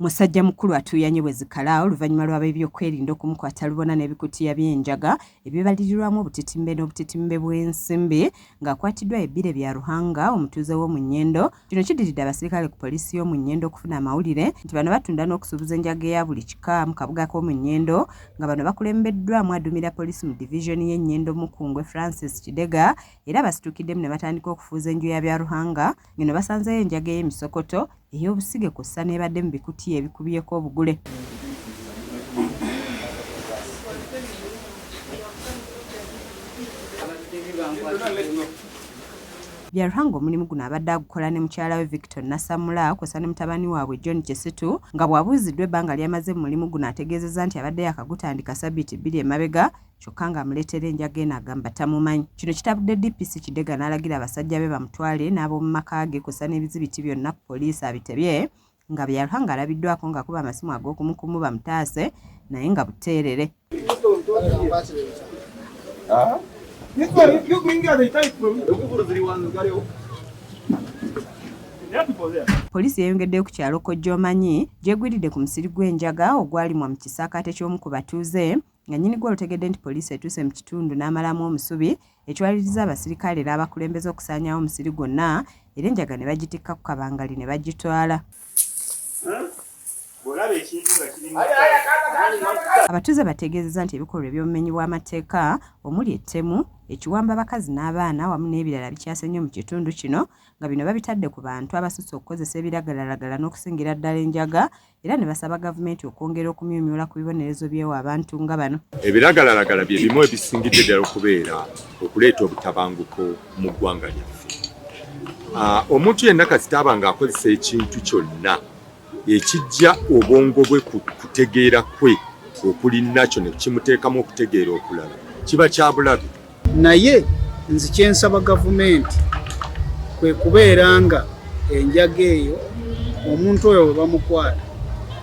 Musajja mukulu atuuyanye bwe zikala oluvannyuma lw'abeebyokwerinda okumukwata lubona n'ebikutiya by'enjaga ebibalirirwamu obutitimbe n'obutitimbe bw'ensimbi ng'akwatiddwa ye Bire Byaruhanga omutuuze w'omu Nyendo. Kino kiddiridde abaserikale ku poliisi y'omu Nyendo okufuna amawulire nti bano batunda n'okusuubuza enjaga eya buli kika mu kabuga k'omu Nyendo nga bano bakulembeddwamu aduumira poliisi mu divizoni y'e Nyendo Mukungwe Francis Kidega era basitukiddemu ne batandika okufuuza enju ya Byaruhanga ng'eno basanzeeyo enjaga ey'emisokoto, ey'obusige kw'ossa n'ebadde mu bikutiya ebikubyeko obugule. Byaruhanga omulimu guno abadde agukola ne mukyala we Victor Nasamula kw'ossa ne mutabani waabwe John Kisitu nga bw'abuuziddwa ebbanga ly'amaze mu mulimu guno ategeezezza nti abadde yaakagutandika sabiti bbiri emabega kyokka ng'amuleetera enjaga eno agamba tamumanyi. Kino kitabudde DPC Kidega n'alagira abasajja be bamutwale n'ab'omu maka ge kw'ossa n'ebizibiti byonna ku poliisi abitebye nga Byarha ng'alabiddwaako ng'akuba amasimu ag'okumukumu bamutaase naye nga buteerere. Poliisi yeyongeddeyo ku kyalo Kojjoomanyi gy'egwiridde ku musiri gw'enjaga ogwalimwa mu kisaakaate ky'omu ku batuuze nga nnyini gwo olutegedde nti poliisi etuuse mu kitundu n'amalamu omusubi ekiwaliriza abasirikale n'abakulembeze okusaanyaawo omusiri gwonna era enjaga ne bagitikka ku kabangali ne bagitwala. Abatuuze bategeezezza nti ebikolwa eby'obumenyi bw'amateeka omuli ettemu, ekiwamba abakazi n'abaana wamu n'ebirala bikyase nnyo mu kitundu kino nga bino babitadde ku bantu abasusse okukozesa ebiragalalagala n'okusingira ddala enjaga era ne basaba gavumenti okwongera okumyumyula ku bibonerezo byewa abantu nga bano. Ebiragalalagala bye bimu ebisingidde ddala okubeera okuleeta obutabanguko mu ggwanga lyaffe. Ah, omuntu yenna kasitaaba ng'akozesa ekintu kyonna ekijja obwongo bwe ku kutegeera kwe okuli nakyo ne kimuteekamu okutegeera okulala kiba kya bulabe. Naye nzi kyensaba gavumenti kwe kubeera nga enjaga eyo omuntu oyo bwe bamukwata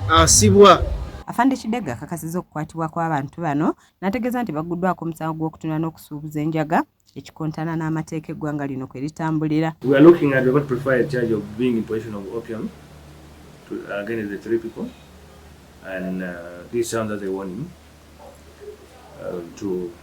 asibwa. Afande Kidegga akakasiza okukwatibwa kw'abantu bano n'ategeeza nti bagguddwako omusango gw'okutunda n'okusuubuza enjaga ekikontana n'amateeka eggwanga lino kwe litambulira. We are looking at, we are going to prefer a charge of being in possession of opium to, uh, against the three people and uh, this sounds as a warning uh, to